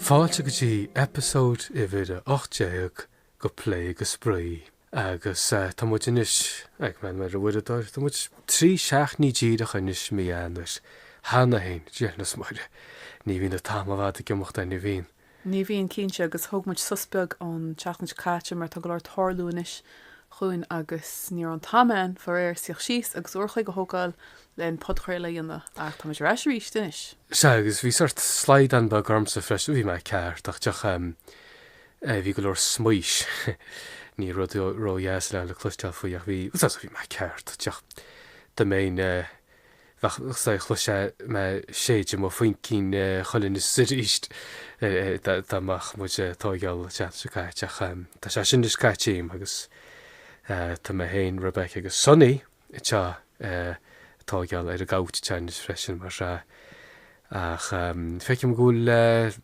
Fáilte go dtí eipeasóid uimhir a 18 Ó Phlé go Spraoi! Agus tá muid anois ag breathnú ar an uaireadóir, tá muid trí seachtainí díreach anois mí Eanáir. Cheana féin, Dia linn is Muire, ní bhíonn an t-am i bhfad ag imeacht an mbíonn? Ní bhíonn cinnte, agus thóg muid sos beag an tseachtain seo caite mar tá go leor ag tarlú anois againn agus ní raibh an t-am ann, faraor, suí síos agus uair a chloig a thógáil len an podchraoladh a dhéanamh. Ach tá muid ar ais arís anois! Sea, agus bhí sort slaghdán beag ormsa freisin, bhí mé ag casachtach. Bhí go leor smaois, ní rud ródheas é le cloisteáil faoi ach bhí, bhuel bhí mé ag casachtach, dá mbeinn, bheadh sé, chloisfeá mé ag séideadh mo chaincín arís is arís dá mbeadh muid ag tóigeáil an seachtain seo caite ach tá sé sin anois caite uaim agus tá mé féin, Rebecca agus Sonny anseo ag tóigeáil ar an gcouch anseo anois freisin mar sin ach feicim go bhfuil.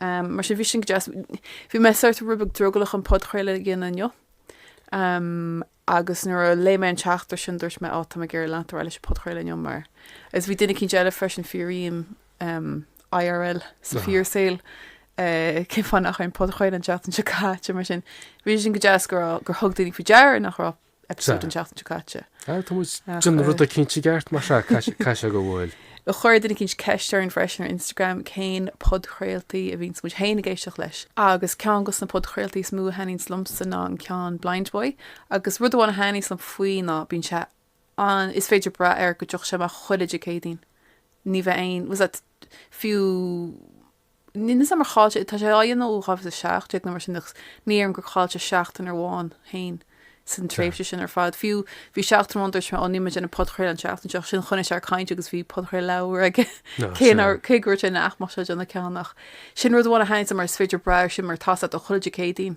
Mar sin bhí sin go deas. Bhí mé sort roinnt beag drogallach chun podchraoladh a dhéanamh inniu agus nuair a léigh mé an teachtaireacht sin dúirt mé Ó tá mé ag iarraidh leanacht ar aghaidh leis an podchraoladh inniu mar is bhí duine eicínt eile freisin faraim IRL sa fíorsaol cén fáth nach raibh aon podchraoladh an tseachtain seo caite mar sin bhí sin go deas go raibh gur thug daoine faoi deara nach raibh eipeasóid an seachtain seo caite. Tá muid ag déanamh rud eicínt i gceart mar sin is cosúil go bhfuil. Ach chuir duine eicínt ceist orainn freisin ar Instagram cén podchraoltaí a bhíonns muid féin ag éisteacht leis. Agus ceann dos na podchraoltaí is mó a thaitníonns liomsa ná an ceann Blind Boy. Agus rud amháin a thaitníonns liom faoi ná bíonn sé an, is féidir brath air go dtiocfaidh sé amach chuile Dé Céadaoin. Ní bheadh aon, was that, fiú Níl a fhios agam ar chaill sé, tá sé á dhéanamh ó 2017 nó mar sin ach ní déarfainn gur chaill sé seachtain amháin féin san tréimhse sin ar fad. Fiú bhí seachtain amháin dúirt sé ó ní bheidh aon podchraoladh an seachtain seo ach ansin choinnigh sé air ag caint agus bhí podchraoladh aige cé nár cé go raibh sé ina ghnáthcheann ach sin rud amháin a thaitníonn liomsa mar is féidir brath air sin mar tá sé ann chuile Dé Céadaoin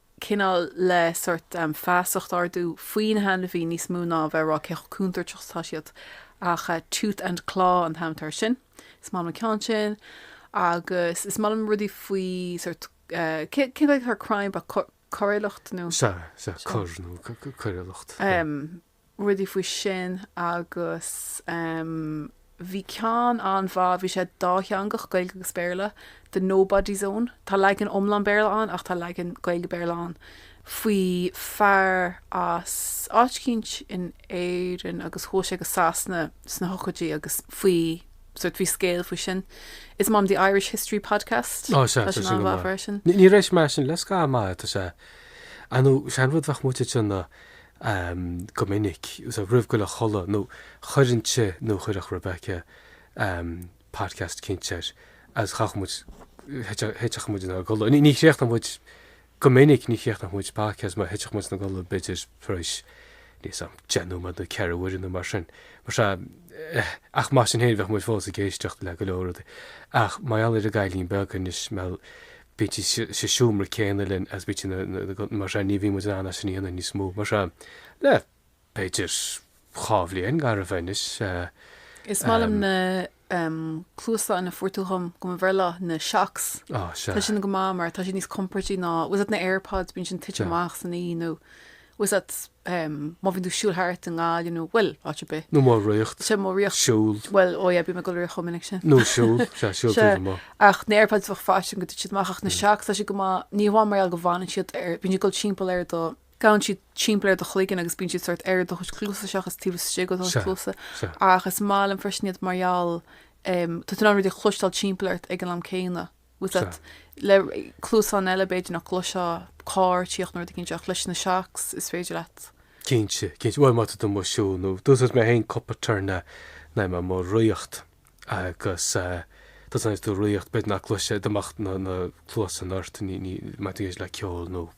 cineál le sort feasacht a ardú faoi na hainmhithe níos mó ná a bheith ag rá cé chomh contúirteach atá siad ach tooth and claw an t-ainm atá ar sin. Is maith liom an ceann sin agus is maith liom rudaí faoi sort cén chaoi a deirtear crime ab é coiriúlacht nó. Sea sea coir nó coiriúlacht. rudaí faoi sin agus bhí ceann an-mhaith, bhí sé dátheangach, Gaeilge agus Béarla, The Nobody Zone, tá leagan iomlán Béarla ann ach tá leagan Gaeilge-Béarla ann faoi fear as áit eicínt in Éirinn agus chuaigh sé go Sasana sna hochtóidí agus faoi sórt, bhí scéal faoi sin. Is maith liom The Irish History Podcast, tá sé an-mhaith freisin. Níor éist mé leis sin le scaitheamh maith, tá sé, you know, sin rud bheadh muid ag déanamh, go minic, so roimh dul a chodladh nó chuirfinnse nó chuirfeadh Rebecca podcast eicínt air agus chaithfeadh muid, thitfeadh muid inár gcodladh, ní chríochnódh muid, go minic ní chríochnódh muid podcast mar thitfeadh muid ina gcodladh b'fhéidir tar éis, níl a fhios agam, deich nóiméad nó ceathrú uaire nó mar sin. Mar sea, ach mar sin féin bheadh muid fós ag éisteacht le go leor rudaí. Ach mar gheall ar an gcailín beag anois, bíonn sí sa seomra céanna linn is bíonn sí mar seo, ní bhíonn muid in ann é sin a dhéanamh níos mó mar seo le b'fhéidir dhá bhliain gar a bheith anois. Is maith liom na cluasáin a fuair tú dhom do mo bhreithlá, na Shokz, tá sin go maith mar tá siad níos compordaí ná, tá a fhios agat na Airpods, bíonn sin ag titim amach san oíche nó Tá a fhios agat má bhíonn tú ag siúl thart i nGaillimh you know, bhuel, áit ar bith. Nó amuigh ag ritheacht, Sea, amuigh ag ritheacht. siúl. Bhuel, ó yeah, bíonn mé ag dul ag ritheacht chomh minic sin. Nó siúl, sea, siúl Sea, taobh amuigh. ach na Airpods bheadh faitíos orm go dtitfeadh siad amach ach na Shokz tá siad go maith, ní hamháin mar gheall go bhfanann siad ar, bíonn siad ag dul timpeall ar do, gabhann siad timpeall ar do chloigeann agus bíonn siad sórt ar do chuid cluasa seachas taobh istigh ó do chuid Sea, cluasa, sea. ach is maith liom freisin iad mar gheall, em, tá tú in ann rudaí a chloisteáil timpeall ort ag an am céanna. Tá a fhios agat, le cluasáin eile b'fhéidir nach gcloisfeá carr ag tíocht nó rud eicínt ach leis na Shokz is féidir leat. Cinnte, cinnte. Bhuel, má tá tú amuigh ag siúl nó d'úsáid mé féin cúpla turn le le mé amuigh ag ritheacht agus tá a fhios agat tú ag ritheacht b'fhéidir nach gcloisfeá dá mbeadh na na cluasáin ort ní ní má tá tú ag éisteacht le ceol nó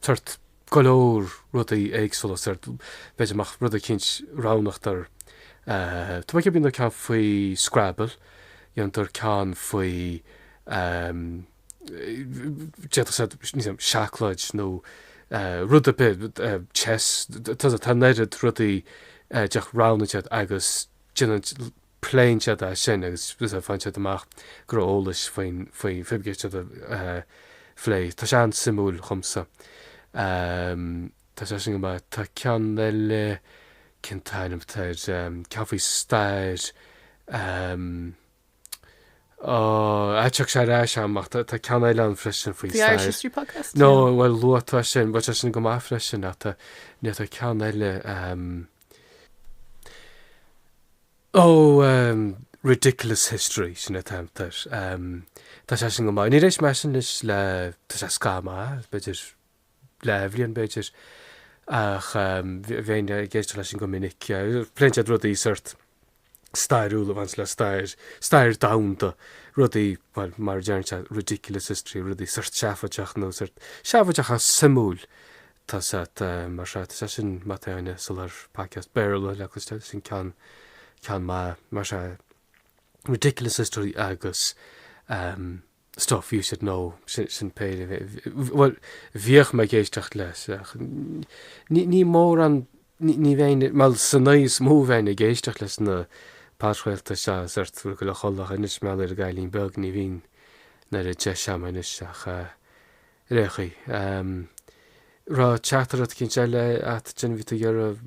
Thart go leor rudaí éagsúla sórt b'fhéidir go mbeadh rud eicínt roghnaíodar tá mé ag ceapadh ceann faoi Scrabble, dhéanadar ceann faoi d'fhéadfadh sé níl a fhios agam seacláid nó rud ar bith chess tá an oiread rudaí d'fhéadfadh roghnaigh siad agus déanann Pléann siad as sin agus faigheann siad amach go raibh eolas faoin Fibgate siad a phlé. Tá sé an-suimiúil dhomsa. Tá sé sin go maith. Tá ceann eile, cén t-ainm atá air? Ceann faoi stair. Á, tiocfaidh sé ar ais a'm ach tá ceann eile ann freisin faoi stair. The Irish History Podcast? Nó, bhuel, luaigh tú sin. Bhuel, tá sin go maith freisin ach tá, ná tá ceann eile. Oh, um, ridiculous history, sin an t-ainm atá air. Um, tá sé sin go maith. Níor éist mé anois leis le, tá sé scaitheamh, b'fhéidir leath bhliain, b'fhéidir, ach, um, bhí, bhínn ag éisteacht leis sin go minic, pléann siad rudaí sórt. stairiúil a bhaineann le stair, stair domhanda, rudaí, bhuel, mar a deireann sé, ridiculous history, rudaí sórt seafóideach nó sórt seafóideach ach suimiúil. Tá siad, mar sin, tá sé sin má tá éinne ag lorg podcast Béarla le cloisteáil, sin ceann, ceann maith, mar sin, ridiculous history agus. Stuff you should know, sin péire. Bhuel, bhíodh mé ag éisteacht leis, ach, ní mórán, ní bheinn, mar sin níos mó bheinn ag éisteacht leis na podchraoltaí seo sórt go bhfuil mé chomh cruógach anois, mar gheall ar an gcailín beag, ní bhíonn, mórán deis a'm anois, ach. Right, OK. Raibh teachtaireachtaí éicint eile a't a bhí tú iarraidh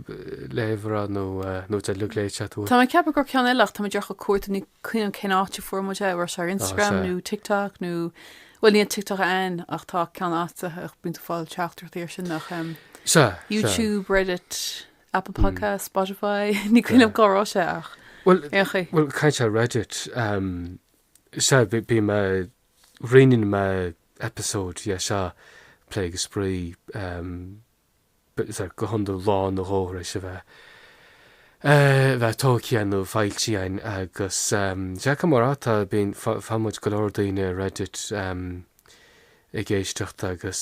léamh amach nó 'bhfuil siad uilig léite a't. Tá mé ag ceapadh go raibh ceann eile ach tá mé ag iarraidh cuartú, ní chuimhním cén áit a fuair muid é, mar sin ar Instagram nó TikTok nó bhuel níl an TikTok a'inn ach tá muid in ann a bheith ag fáil teachtaireachtaí ar sin nach Sea, YouTube, Reddit, Apple Podcasts, Spotify ní chuimhním cá raibh sé ach bhuel ag caint ar Reddit, sea, bhí mé Roinneann mé eipeasóid de seo Plé agus Spraoi. Go hiondúil lá nó dhó tar éis a bheith, a bheith tóigthe a'inn nó foilsithe a'inn agus sea mar atá, bíonn, faigheann muid go leor daoine ar Reddit ag éisteacht agus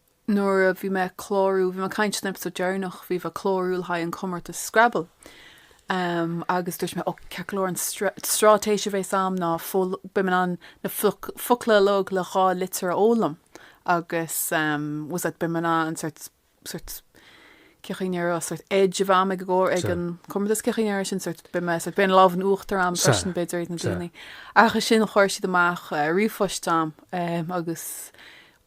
nuair a bhí mé ag clárú, bhí mé ag caint san eipeasóid deireanach, bhí mé ag clárú le haghaidh an comórtas Scrabble em agus dúirt mé, ó, ceart go leor an stráitéis a bhéas a'm ná beidh mé in ann na focla uilig le dhá litir a fhoghlaim agus em basically beidh mé in ann sórt, sórt cé chaoi a ndéarfá sórt sort edge a bheith a'm ag an gcomhair, ag an comórtas cé chaoi a ndéarfá sin sórt beidh mé sórt beidh an lámh in uachtar a'm freisin b'fhéidir ag na daoine ach ansin chuir siad amach eh, ríomhphost a'm em agus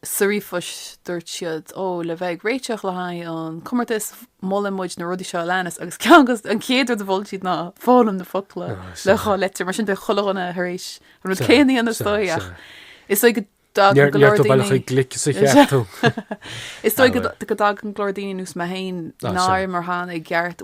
Sa ríomhphost dúirt siad, Ó, le bheith ag réiteach le haghaidh an chomórtais, molann muid na rudaí seo a leanas agus ceann acu, an chéad rud a mhol siad ná foghlaim na focla le dhá litir, mar sin beidh chuile dhuine tar éis an rud céanna a dhéanamh is dóigh ach is dóigh go raibh tú a bheith glic, sea. Is dóigh go dtagann go leor daoine ar nós mé féin nár imir cheana i gceart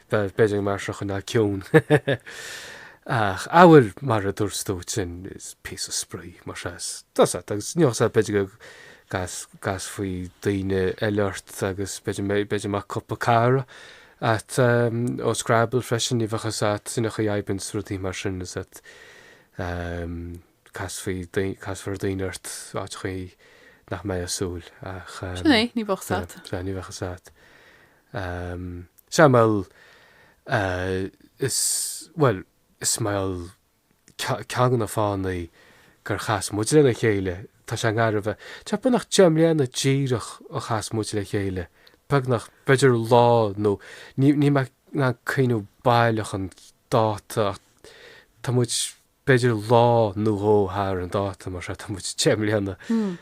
B'fhéidir go mbeadh sé chomh ciúin ach amhail mar a dúirt tú sin is píosa spraoi mar sea tá sé agus níos b'fhéidir go gcas gcasfaí daoine eile ort agus beidh b'fhéidir mar cúpla cara a'd um, ó Scrabble freisin ní bheadh 's a'd sin a chu aibn rudaí mar sin is at um, casfaidh, casfar daoine ort ar chaoi nach mbeidh aon súil a'd eh. Sin é, ní bheadh 's a'd. Sea, ní bheadh 's a'd. Em, sea mar eh is, bhuel, is mar ce- ceann de na fáthannaí gur chas muid lena chéile, tá sé garbh eh, tá beagnach deich mbliana díreach ó chas muid le chéile, beagnach, b'fhéidir lá nó, ní, níl mé in ann cuimhneamh baileach an dáta ach tá muid, b'fhéidir lá nó dhó thar an dáta mar seo, tá muid deich mbliana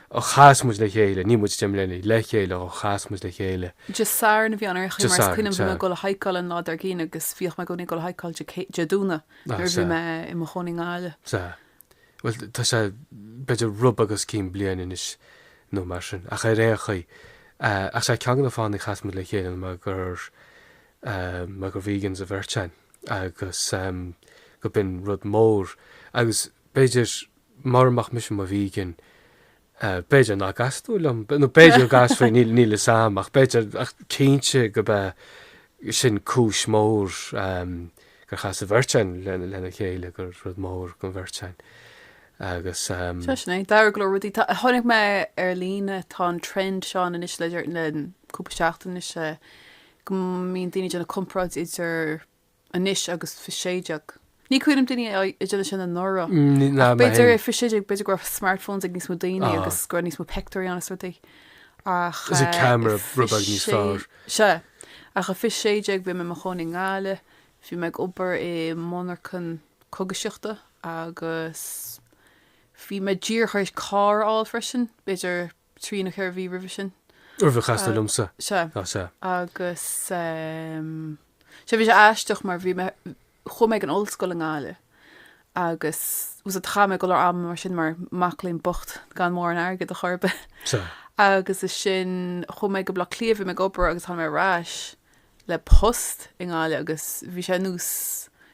ó chas muid le chéile, ní muid deich mbliana le chéile ó chas muid le chéile. Dé Sathairn a bhí ann, ar aon chaoi, mar is cuimhin liom bhí mé ag dul ag hikeáil an lá dar gcionn agus bhíodh mé i gcónaí ag dul ag hikeáil Dé Domhnaigh nuair a bhí mé i mo chónaí i nGaillimh. Sea. Bhuel, tá sé b'fhéidir rud beag os cionn bliain anois nó mar sin, ach ar aon chaoi, sea, ceann de na fáthanna a chas muid le chéile ná mar gur, mar gur vegans an bheirt againn. agus go b'in rud mór agus b'fhéidir mara mbeadh mise i mo vegan b'fhéidir nach gcasfá liom nó b'fhéidir gcasfaí níl níl a fhios a'm ach b'fhéidir ach cinnte go ba é sin cúis mór gur chas an bheirt a'inn lena chéile gur rud mór don bheirt a'inn agus Sea sin é, tharla go leor rudaí. Tá- Tháinig mé ar líne, tá an trend seo anois le le cúpla seachtain anois, eh, go mbíonn daoine ag déanamh comparáid idir anois agus fiche 16. Ní cuimhin liom daoine ag déanamh sin anuraidh. Ach b'fhéidir i fiche 16 b'fhéidir go raibh smartphones ag níos mó daoine agus go raibh níos mó pictiúirí ann is rudaí. Ach Is an camera rud beag níos fearr. Sea. Ach i fiche 16 bhí mé i mo chónaí i nGaillimh, bhí mé ag obair i monarchan cógaisíochta agus bhí mé díreach tar éis carr a fháil freisin. B'fhéidir trí nó ceithre mhí roimhe sin. Roimh ar chas tú liomsa? Sea. Ah, sea. Agus, sea, bhí sé aisteach mar bhí mé, chuaigh mé ag an ollscoil i nGaillimh agus, sea, chaith mé go leor ama mar sin mar mac léinn bocht gan mórán airgid a chor ar bith. Sea. Agus ansin, chuaigh mé go Baile Átha Cliath, bhí mé ag obair agus tháinig mé ar ais le post i nGaillimh agus bhí sé nós,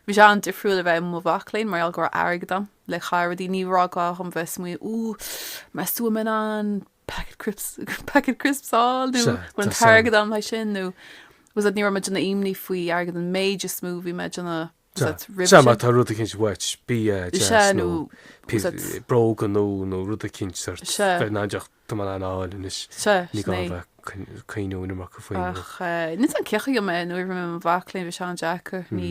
bhí sé an-difriúil a bheith i mo mhac léinn mar gheall go raibh airgead a'm le caitheamh ar rudaí, ní raibh gá dhom bheith ag smaoineamh ooh meas tú an mbeidh mé in ann packet crips, packet crisps a fháil nó an bhfuil an t-airgead agam le sin nó was it, ní raibh mé ag déanamh imní faoi airgead an méid is a bhí mé ag déanamh Sea, má tá rud eicínt uait, bia, deas nó bróga nó rud eicínt sórt, beidh ná deoch dom in ann a fháil anois. Sea, sea. Ní gá a bheith cuimhniú an iomarca faoi nó. Ach ní dóigh liom cé mé nuair a bhí mé i mo mhac léinn, bhí sé an-deacair. Ní,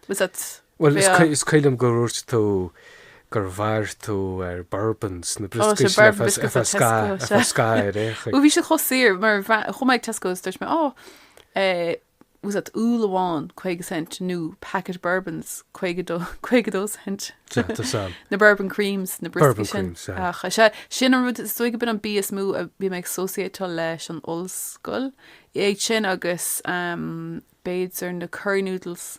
bhfuil fhios a'd, Bhuel, is cuimhin liom gur dhúirt tú gur mhair tú ar bourbons, na brioscaí sin ar feadh scáth ar fhéachaint. Bhuel, bhí siad chomh saor, mar chuaigh mé ag Tesco, is dúirt mé, Ó, bhfuil fhios a'd úll amháin 50 cent nó packet of bourbons 52 52 cent Sea tá fhios a'm. na bourbon creams, na brioscaí Bourbon sin. creams, aye. Ach is ea, sin an rud is dóigh go b'in an bia is mó a bhí mé ag associate-áil leis an ollscoil. Iad sin agus, ehm, b'fhéidir na curry noodles.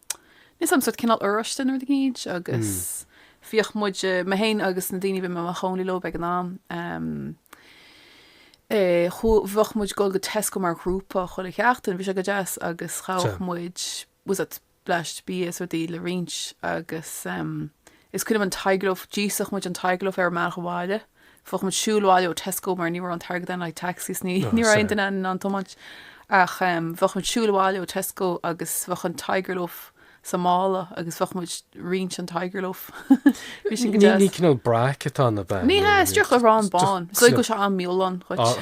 Níl fhios a'm, sórt cineál oráiste nó rud éigin agus bhíodh muid, mé féin agus na daoine a bhí mé i mo chónaí leo ag an am, bheadh muid ag dul go Tesco mar ghrúpa chuile sheachtain, bhí sé go deas agus ghabhadh muid, bhfuil fhios a'd bleaist bia is rudaí le roinnt agus is cuimhin liom an Tiger Loaf, d'íosfadh muid an Tiger Loaf ar an mbealach abhaile. Bheadh muid siúil abhaile ó Tesco mar ní raibh an t-airgead againn do taxis ní raibh aon duine againn in ann tiomáint ach bheadh muid siúil abhaile ó Tesco agus bheadh an Tiger Loaf sa mála agus bheadh muid roinnt an Tiger Loaf bhí sin go deas. Ní cineál brack atá ann ab ea. Ní hea, díreach arán bán. Is dóigh go bhfuil sé an-mhífholláin dhuit.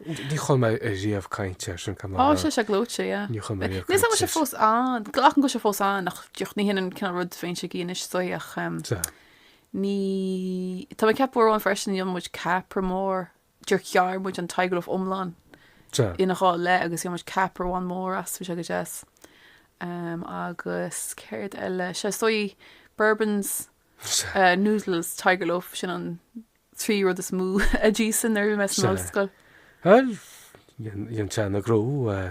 Níor chuala mé riamh caint air sin cad Tá sé sé gleoite, yeah. Níor chuala mé riamh caint air sin. Níl fhios a'm an bhfuil sé fós ann. Glacaim go bhfuil sé fós ann ach díreach ní hionann an cineál rud a bhímse ag ithe anois is dóigh ach Ní, tá mé ag ceapadh uair amháin freisin dhéan muid ceapaire mór, díreach ghearr muid an Tiger Loaf iomlán ina dhá leith agus dhéan muid ceapaire amháin mór as, bhí sé go deas. Agus céard eile? Sea, is dóigh bourbons, noodles, Tiger Loaf, sin an trí rud is mó a d'íosfainn nuair a bhí mé san ollscoil. Bhuel, dhein sé an gnó,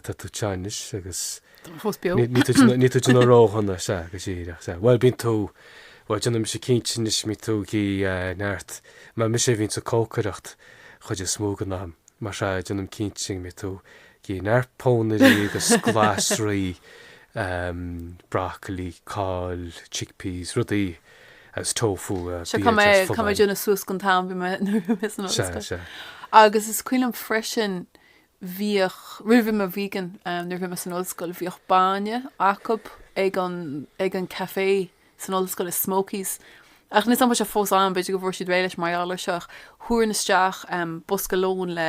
tá tú anseo anois agus Tá mé fós beo. níl tú ag déanamh ródhona, sea, go díreach, sea. Bhuel, bíonn tú, bhuel, déanaimse cinnte anois go mbíonn tú ag ithe, neart, mar mise a bhíonns ag cócaireacht chuid is mó den am, mar sea, déanaim cinnte go mbíonn tú ag ithe neart pónairí agus glasraí, broccoli, cáil, chickpeas, rudaí as tofu a Seo cá bhíod ar mbeidh cá mbeidh folláin. Déanamh suas gon t-am bhí mé nuair a bhí mé san Sea, ollscoil. sea. Agus is cuimhin liom freisin bhíodh roimh bhí mé vegan eh, nuair a bhí mé san ollscoil bhíodh bainne acu ag an ag an café san ollscoil i Smokies ach níl fhios a'm an bhfuil sé fós ann b'fhéidir go bhfuair siad réidh leis mar gheall air seo ach thabharfainn isteach em bosca lóin le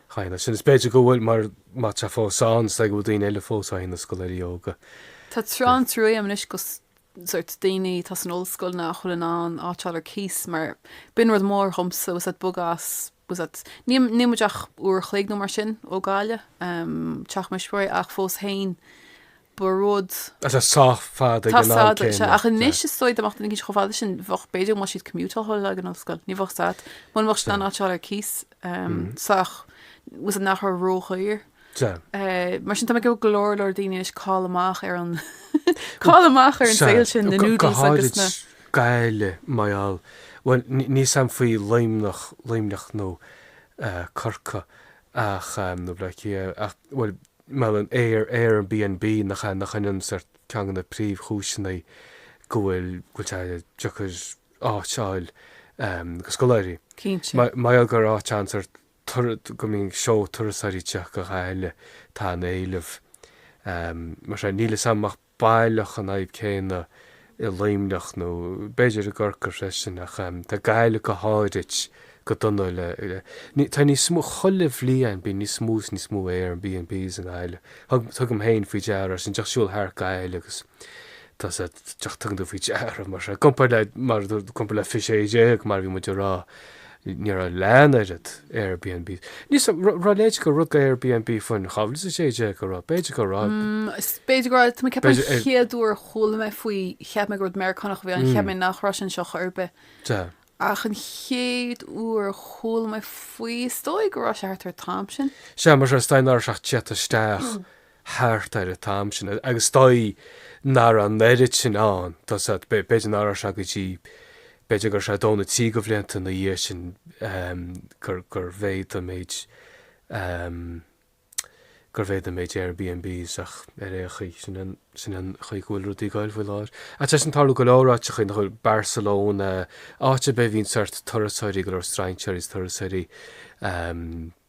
Chaill é sin. Is b'fhéidir go bhfuil mar má tá fós ann, is dóigh go bhfuil daoine eile fós á dhéanamh, scoláirí óga. Tá tréan trua a'm anois do sórt daoine atá san ollscoil nach bhfuil in ann áit a fháil ar cíos mar b'in rud mór dhomsa bhfuil fhios a'd bogadh as bhfuil fhios a'd níl níl muid ach uair a chloig nó mar sin ó Ghaillimh, teach mo thuismitheoirí ach fós féin ba rud. atá sách fada ag an am céanna. Tá, ach anois is dóigh dom, ach níl chomh fada sin, bheadh, b'fhéidir go mbeadh siad commuteáil ag an ollscoil, ní bheadh siad, mura mbeadh siad in ann áit a fháil ar cíos sách, fhios agat nach raibh ródhaor. Mar sin, tá mé ag iarraidh go leor, leor daoine anois ag cailleadh amach ar an, cailleadh amach ar an saol sin, na noodles agus na. go háirithe Gaillimh mar gheall, bhuel, níl a fhios agam faoi Luimneach, Luimneach nó Corcaigh ach, nó Baile Átha Cliath, ach, bhuel, Mar gheall ar an Airbnb nach ea nach in sórt ceann de na príomhchúiseanna go bhfuil bhfuil sé deacair áit a fháil do scoláirí. Cinnte. Mar gheall gur áit ann sórt go mbíonn seó turasóirí ag teacht go Gaillimh tá an éileamh. Mar sin, níl a fhios agam ach. baileach an fhadhb céanna i Luimneach nó b'fhéidir i gCorcaigh freisin ach tá Gaillimh go háirid go dona le, tá níos mó, chuile bhliain bíonn níos mó is níos mó Airbnbs i nGaillimh. Tugaim féin faoi deara é sin, díreach ag siúl thart Gaillimh agus tá sé, díreach tugann tú faoi deara mar i gcomparáid le, mar i gcomparáid le 2016 mar a bhí muid a rá, Ní raibh leath an oiread Airbnb. Níl a fhios an raibh a leithéid de rud Airbnb faoin chabhair, is is dóigh go raibh, b'fhéidir go raibh. Is b'fhéidir go raibh, tá mé ag ceapadh an b'fhéidir. chéad uair a chuala mé faoi, cheap mé gur rud Meiriceánach a bhí ann, cheap mé nach raibh sé anseo chor ar bith. Sea. Ach an chéad uair a chuala mé faoi, is dóigh go raibh sé thart ar an t-am sin. Sea, mar sin, is dóigh nach raibh sé ach tagtha isteach thart ar an t-am sin agus is dóigh nach raibh an oiread sin ann, tá a fhios agat, b'fhéidir nach raibh sé go dtí, b'fhéidir go raibh sé dó nó trí de bhlianta ina dhiaidh sin gur, gur mhéadaigh an méid, gur mhéadaigh an méid Airbnbs ach ar aon chaoi sin an, sin an chaoi go bhfuil rudaí ag gabháil faoi láthair. Ach tá sé sin ag tarlú go leor áiteachaí, cosúil le Barcelona, áit ar bith a bhíonn sórt turasóirí, go leor strainséirí is turasóirí,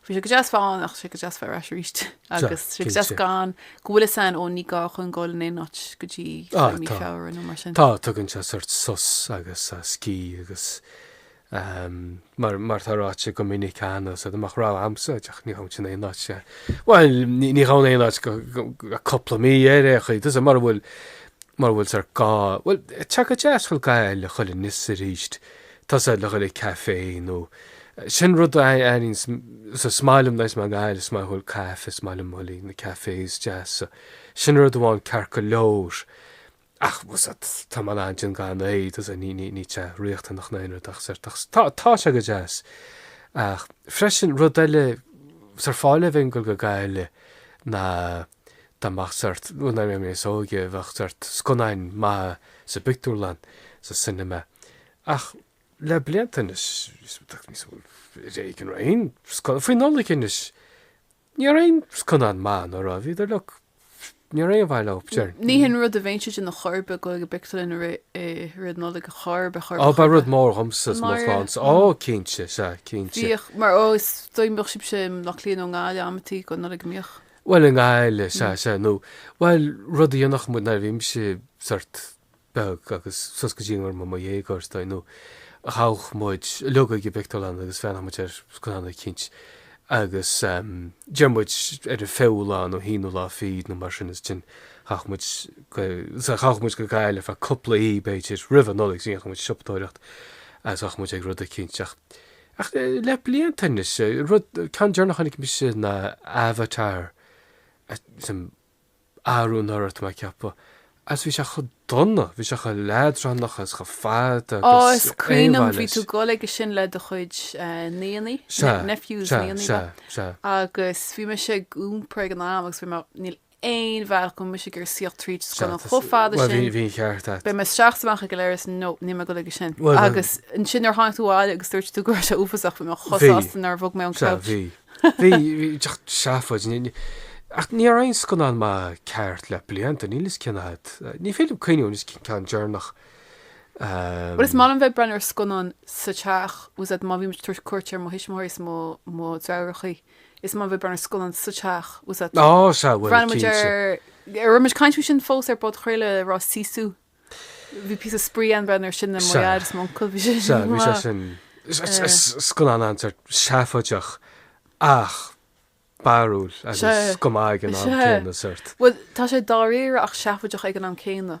Bhí sé go deas fáil ann ach tá sé go deas fáil ar ais arís agus tá sé go deas gan go bhfuil a fhios agam ó ní gá chun gabháil in aon áit go dtí mí Feabhra nó mar sin. Tá tugann sé sórt sos agus scíth agus mar mar atá ráite go minic cheana sa amach rá agamsa díreach ní há sin aon áit sé. Bhuel ní há aon áit go cúpla mí ar aon chaoi tá a fhios agat mar bhfuil mar bhfuil sórt go bhfuil sé go deas dhul go Gaillimh chuile anois is aríst Tá a fhios agat le dhul ag café nó sin rud a airímse is maith liom na is maith liom is maith liom caife is maith liom chuile na cafés deasa sin rud amháin ceart go leor ach tá mé in ann déanamh gan é tá a fhios agat níl níl níl sé riachtanach ná aon rud ach sórt ach tá tá sé go deas ach freisin rud eile sar fáil a bheith ag gabháil go Gaillimh ná Tá ach sort, nuair a bhí mé níos óige bheadh sort scannáin maithe sa bpictiúrlann, sa cinema. Ach le blianta anois, ar éigean a raibh aon scannán, faoi Nollaig anois ní raibh aon scannán maith, nó an raibh? Bhíodar like, ní raibh aon mhaith leo, deirim. Ní shin rud a bhíonn siad ina chor ar bith, goil ag an bpictiúrlann i rith Nollaig a chor ar bith, chor ar bith. Ó, ba rud mór dhomsa is mo chlannsa, ó cinnte, sea, cinnte. Bhíodh, mar ó is dóigh bhíodh sibhse i mBleá Cliath nó i nGaillimh amantaí don Nollaig, an mbíodh. Bhuel, i nGaillimh, sea, sea, nó, bhuel, rud a dhéanfadh muid nuair a bhí mise sort beag agus suas go dtí go raibh mé i mo dhéagóir, is dóigh, ná ghabhadh muid, uilig ag an bpictiúrlann agus bhreathnaíodh muid ar scannán eicínt agus, em, déarfaidh muid ar an bhfichiú lá nó haonú lá fichead nó mar sin agus ansin ghabhadh muid go, sea, ghabhadh muid go Gaillimh ar feadh cúpla oíche, b'fhéidir, roimh an Nollaig, is ghabhadh muid ag siopadóireacht agus ghabhadh muid ag rud eicínt ach, Ach le blianta anois, rud, an ceann deireanach a chonaic mise ná Avatar, sin arú anuraidh tá mé ag ceapadh, agus bhí sé chomh dona, bhí sé chomh leadránach agus chomh fada agus gan aon mhaith leis. Á, is cuimhin liom, bhí tú ag dul aige sin le do chuid nianna, Sea, nephews, sea, nianna, sea, sea. agus bhí mise ag iompar ag an am agus bhí mé, níl aon bhealach go bhfuil mise ag iarraidh suí tríd scannán chomh fada sin. Bhuel, bhí an ceart agat. Beidh mé isteach is amach ag an leithreas, nó níl mé ag dul aige sin. Agus ansin nuair a tháinig tú abhaile agus dúirt tú go raibh sé uafásach, bhí mé chomh sásta nár bhog mé ón gcouch. Sea, bhí. Bhí. Díreach seafóid. Ach ní raibh aon scannán maith ceart le blianta, níl fhios cén fhad. Ní féidir liom cuimhneamh anois cén ceann deireanach. Bhuel, is maith liom bheith ag breathnú ar scannán sa teach, bhfuil fhios agat má bhímid ag tabhairt cuairt ar mo thuismitheoirí is mo dheartháireachaí. Is maith liom a bheith ag breathnú ar scannán sa teach, bhfuil fhios agat. Á sea, bhuel, Bhreathnaigh muid ar, cinnte. raibh muid ag caint faoi sin fós ar an bpodchraoladh, an raibh? Sisu. Bhí píosa spraoi ann ag breathnú ar sin le Sea. Mairéad is m'uncail, bhí sé Sea, bhí sé maith. sin. Is is is scannán an- sort seafóideach ach barrúil agus Sea. go maith ag an am Sea. céanna, sort. Bhuel, tá sé dáiríre ach seafóideach ag an am céanna.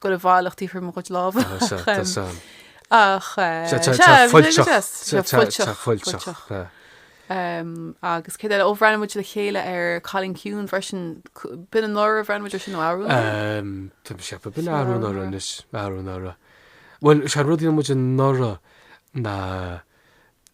goil i bhfolach taobh thiar de mo chuid lámha Tá sa, tá ach sa. ach Tá, tá, tá fuilteach, tá, tá, tá fuilteach, tá. Agus céard eile, ó bhreathnaigh muid le chéile ar Cailín Ciúin freisin, c- b'in anuraidh a bhreathnaigh muid air sin nó arú anuraidh? Ehm, tá mé ag ceapadh, b'in arú anuraidh anois, arú anuraidh. Bhuel, sea, rud a dhéan muid anuraidh ná,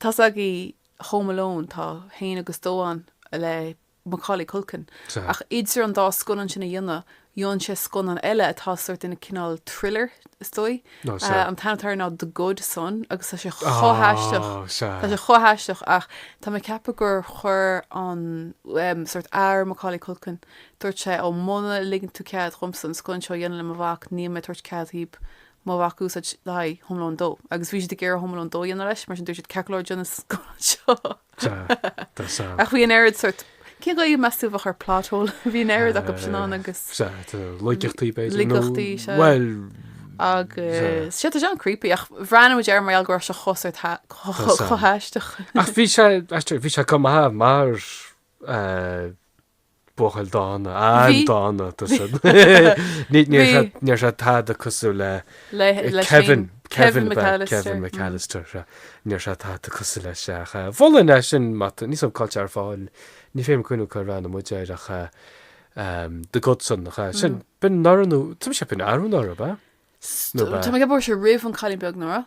Tá fhios agaibh Home Alone, tá a hAon agus a Dó ann le Macaulay Culkin ach idir an dá scannán sin a dhéanamh, dhéan sé scannán eile atá sórt ina cineál thriller is dóigh. An t-ainm atá air ná The Good Son agus tá sé chomh haisteach, tá sé chomh haisteach ach tá mé ag ceapadh gur chuir an sórt athair Macaulay Culkin, dúirt sé 'Ó muna ligeann tú cead dhomsa an scannán seo a dhéanamh le mo mhac, níl mé ag tabhairt cead dhaoib mo mhac a úsáid le haghaidh Home Alone 2 agus bhí siad ag iarraidh Home Alone 2 a dhéanamh leis mar sin dúirt siad ceart go leor déan an scannán seo. Sea, tá sam. Ach bhí an oiread sort, cén Ghaeilge meas tú a bheadh ar plot hole? Bhí an oiread acu sin ann agus. Sea, tá laigeachtaí b'fhéidir. Laigeachtaí, sea. Bhuel. Agus sea, tá sé an-creepy ach bhreathnaigh muid air mar gheall go raibh sé chomh sort chomh haisteach. Ach bhí sé, aisteoir, bhí sé chomh maith mar buachaill dána, an-dána tusa. Ní raibh sé tada cosúil le Kevin, Kevin McAllister, ní raibh sé tada cosúil leis sin ach mholfainn é sin má tá, níl a fhios agam cá bhfuil sé ar fáil, ní féidir liom cuimhniú cár bhreathnaigh muid air ach The Good Son, sin b'in anuraidh nó, tá sé b'in arú anuraidh ab ea? Tá mé ag ceapadh go raibh sé roimh an cailín beag, anuraidh.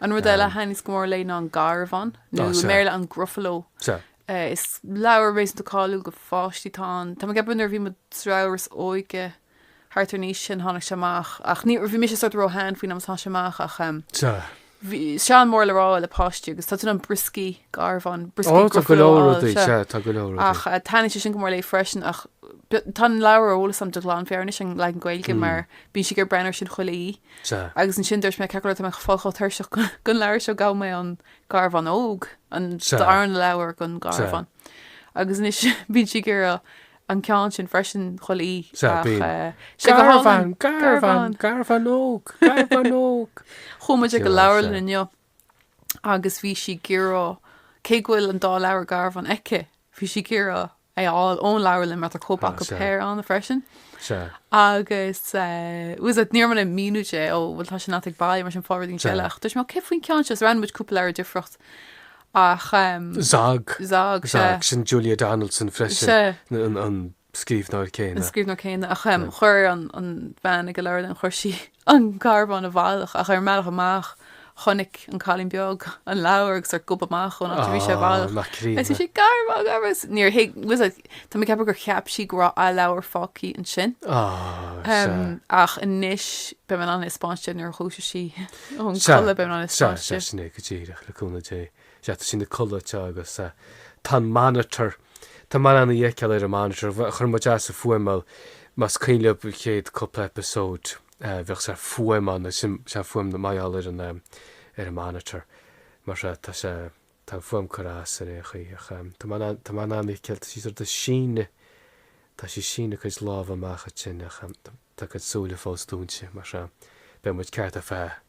An rud eile a thaitníos go mór léi ná an garbhán, nó i mBéarla an gruffalo. Is leabhar réasúnta cáiliúil do pháistí. Tá an, tá mé ag ceapadh nuair a bhí mo dheartháir is óige thart ar an aois sin tháinig sé amach, ach ní, bhí mise sort of ró-shean faoin am is tháinig sé amach ach bhí sé an-mhór le rá le páistí agus tá tú in ann brioscaí garbhán, brioscaí gruffalo a fháil, sea. Tá go leor rudaí, sea, tá go leor rudaí. Ach taitníonn sé sin go mór léi freisin ach tá an leabhar ar eolas agam de ghlanmheabhair anois, an leagan Gaeilge, mar bíonn sí ag iarraidh breathnú air sin chuile Sea. Agus ansin dúirt mé, 'Ceart go leor tá mé ag fáil chomh tuirseach den leabhar seo? Gheobhaidh mé an Garbhán Óg, an darna leabhar den Gharbhán. Agus anois bíonn sí ag iarraidh an ceann sin freisin chuile oíche. Sea, bíonn. Sé go hálainn. Garbhán, garbhán, garbhán óg, garbhán óg. Chuaigh muid ag an leabharlann inniu. agus bhí sí ag iarraidh, cé go bhfuil an dá leabhar garbhán aici, bhí sí ag iarraidh é a fháil ón leabharlann mar tá cóip acu den phéire ann freisin. Agus was it, ní raibh mé in ann míniú di, ó bhuel tá sin agat ag baile mar sin faigh rud eicínt eile. Ach dúirt mé, cé faoin ceann seo, roghnaigh muid cúpla leabhar difríocht ach. Zog, Zog, Zog, sin Julia Donaldson freisin. scríbhneoir céanna. scríbhneoir céanna ach um, chuir an bhean ag an leabharlann, chuir sí an garbhán i bhfolach ach ar an mbealach amach chonaic an cailín beag an leabhar agus é ag gobadh amach ón áit a bhí sé i bhfolach. Nach críonna. Thosaigh sí ag rá garbhán garbhán agus níor thuig, tá mé ag ceapadh gur cheap sí go raibh a leabhar fágthaí ansin. Ach anois beidh mé in ann a thaispeáint di nuair a dhúiseoidh sí ón gcodladh, beidh mé in ann a thaispeáint di. Sea, sea, sin é go díreach, le cúnamh Dé. sea, tá sí ina codladh, tá agus tá an monitor, tá mé in ann í a fheiceáil ar an monitor, chuir muid as an fuaim mar gheall, más cuimhin libh an chéad cúpla eipeasóid bhíodh sort fuaim ann agus sin é an fuaim mar gheall ar an, ar an monitor, mar sea, tá sé, tá an fuaim curtha as ar aon chaoi ach tá mé in ann, tá mé in ann í a fheiceáil, tá sí sort of ag síneadh, tá sí ag síneadh a cuid lámha amach ansin ach tá a cuid súile fós dúinte mar sea, beidh muid ceart ar feadh eh.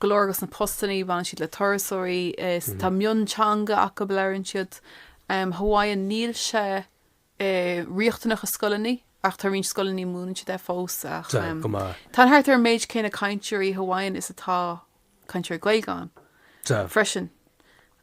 go leor dos na postannaí baineann siad le turasóirí is tá mionteanga acu labhrann siad Hawaiian níl sé riachtanach i scoileannaí ach tá roinnt scoileannaí múineann siad é fós ach tá thart ar an méid céanna cainteoirí Hawaiian is atá cainteoirí Gaeilge ann freisin.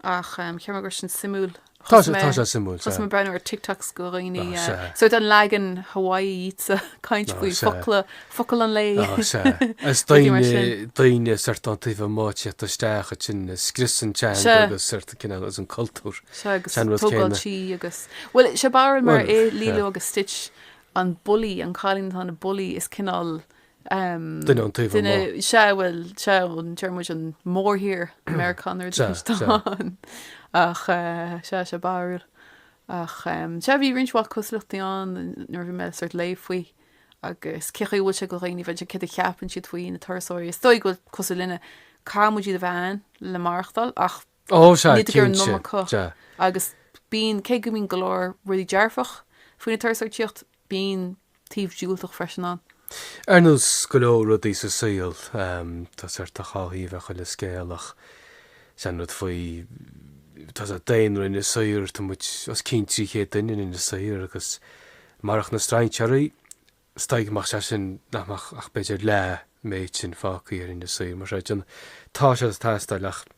Ach cheap mé gur sin suimiúil. Tá sé, tá sé suimiúil. Tá mé ag breathnú ar TikToks de dhaoine. So an leagan Hawaii iad ag caint faoi focla, focal an lae. Is daoine, daoine sórt ón taobh amuigh ag tíocht isteach ansin ag scrios an teanga agus sórt cineál agus an cultúr. Sea agus tógáil tí agus. Bhuel, sea barrúil mar i Lilo agus Stitch an bully, an cailín atá ina bully is cineál Duine ón taobh amuigh. Duine, sea, bhuel, sea, an deireann muid an mórthír, Meiriceánach nó rud éigin atá ann. Ach sea, sea, barrúil. Ach sea, bhí roinnt mhaith cosúlachtaí ann nuair a bhí mé sórt ag léamh faoi agus cén chaoi a bhfuil sé do dhaoine a bheith céard a cheapann siad faoi na turasóirí. Is dóigh go bhfuil cosúil linne, caithfidh muid iad a bheith ann le maireachtáil ach Oh, sea, Níltear ar an cinnte. iomarca Sea. agus bíonn, cé go mbíonn go leor rudaí dearfach faoin turasóireacht, bíonn taobh diúltach freisin ann. Ar nós go leor rudaí sa saol, tá sórt dhá thaobh ar chuile scéal ach is é an rud faoi, tá an daonra in Inis Oírr, tá muid os cionn 300 duine in Inis Oírr agus marach na strainséaraí, is dóigh go mbeadh sé sin, nach mbeadh ach b'fhéidir leath an méid sin fágthaí ar Inis Oírr, mar sin tá siad ag teastáil ach.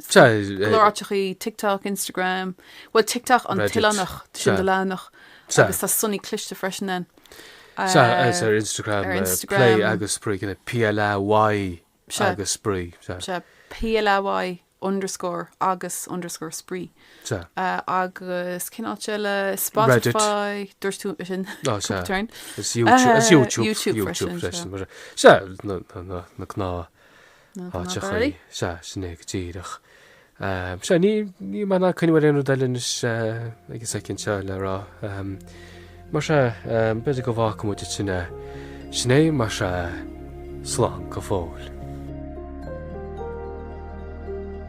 Glóráiteachaí, TikTok, Instagram, bhuel TikTok an t-oileánach, sin do leathanach agus tá Sonaí cliste freisin ann. Sea, is ar Instagram, Play agus Spraoi, cineál PLAY agus Spraoi. Sea, PLAY underscore agus underscore Spraoi. Sea. Agus cén áit eile? Spotify, dúirt tú sin cúpla turn. Is YouTube, YouTube freisin. Sea, na gnáth. Áiteachaí. Sea, sin é go díreach. Sea, ní níl mé in ann cuimhneamh ar aon rud eile anois ag an soicind seo le rá. Mar sea, b'fhéidir go bhfágfaimid ag sin é. Sin é, mar sea, slán go fóill.